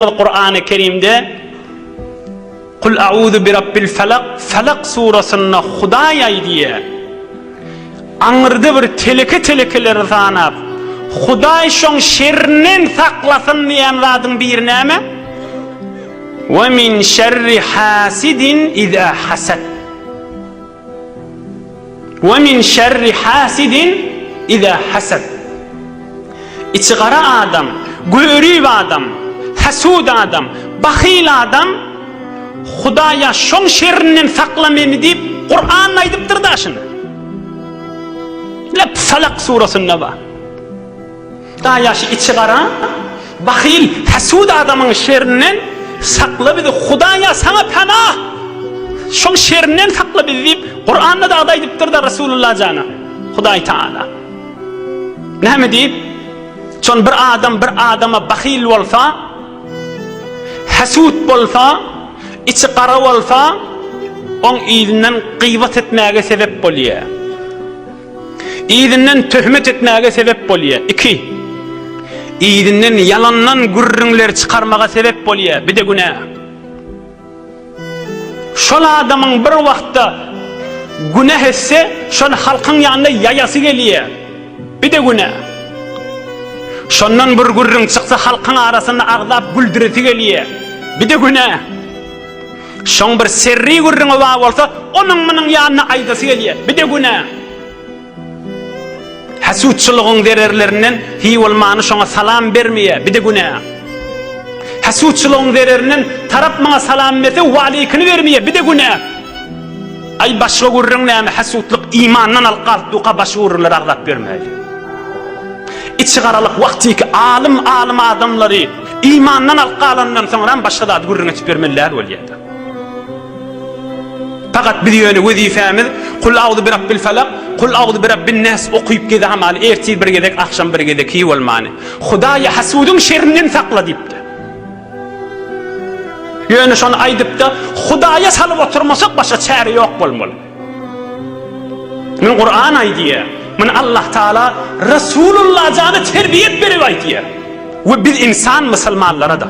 Kur'an-ı Kerimde Kul a'uzu bi rabbil felak Felak surasynda Hudaý aýdýa Aňyrda bir teleke telekeleri sanap Hudaý şoň şerrinden saklasyn diýen zadyň biri näme? Ve min şerri hasidin iza hasad We min şerri hasidin iza hasad. Içi gara adam, görip adam, hasud adam, bahyl adam, Hudaýa şoň şerrinden sakla meni diýip, Kuranda aýdypdyr-da şuny. Lep Falak surasynda bar. Daýaş içi gara, bahyl, häsud adamyň şerinden sakla bizi, Hudaýa saňa penah! Şoň şerinden sakla bizi diýip, Kuranda dagdy aýdypdyr-da Resulullah jana, Hudaý Tagala. Näme diýip? Şon bir adam bir adama bahyl bolsa, häsud bolsa, içi gara bolsa, oň yzyndan gybat etmäge sebep bolýar. Yzyndan töhmet etmäge sebäp bolýar. Iki. Yzyndan ýalandan gürrüňler çykarmaga sebäp bolýar. Bir-de günä. Şol adamyň bir wagtda günäh etse, şony halkyň ýanyna ýaýasy gelýär. Bir-de günä. Şondan bir gürrüň çyksa, halkyň arasynda agzap güldüresi gelýär. Bir-de günä. Şoň bir serri gürrüňi bar bolsa, onuň-munuň ýanyna aýdasy gelýär. Bir-de günä. Hasutçylygyň zererlerinden Hiwul many şoňa salam bermeýär. Bir-de günä. Hasutçylygyň zererinden Tarap maňa salam berse, waleýkini bermeýär. Bir-de günä. Aý, başga gürrüň näme, hasutlyk imandan alyp galpdyka, başga gürrüňleri agzap ýörmäýli. Içigaralyk wagtyky alym-alym adamlary. Imandan alyp galanyndan soňram başga zady gürrüň etip bermeli däl bolýada. Fakat biz ýöne wezifämiz Kul auzu birabbil falak, kul auzu birabbin nas okyp gezämaly, ertir bir gezek, agşam bir gezek hiý bolmany. Hudaýy hasudyň şerrinden sakla diýipdi. Ýöne şony aýdypda Hudaýa salyp oturmasak başga çäre ýok bolmaly. Muny Kuran aýdýar. Muny Allah Taala Resulullah jana terbiýet berip aýdýar. We biz insan musulmanlara-da.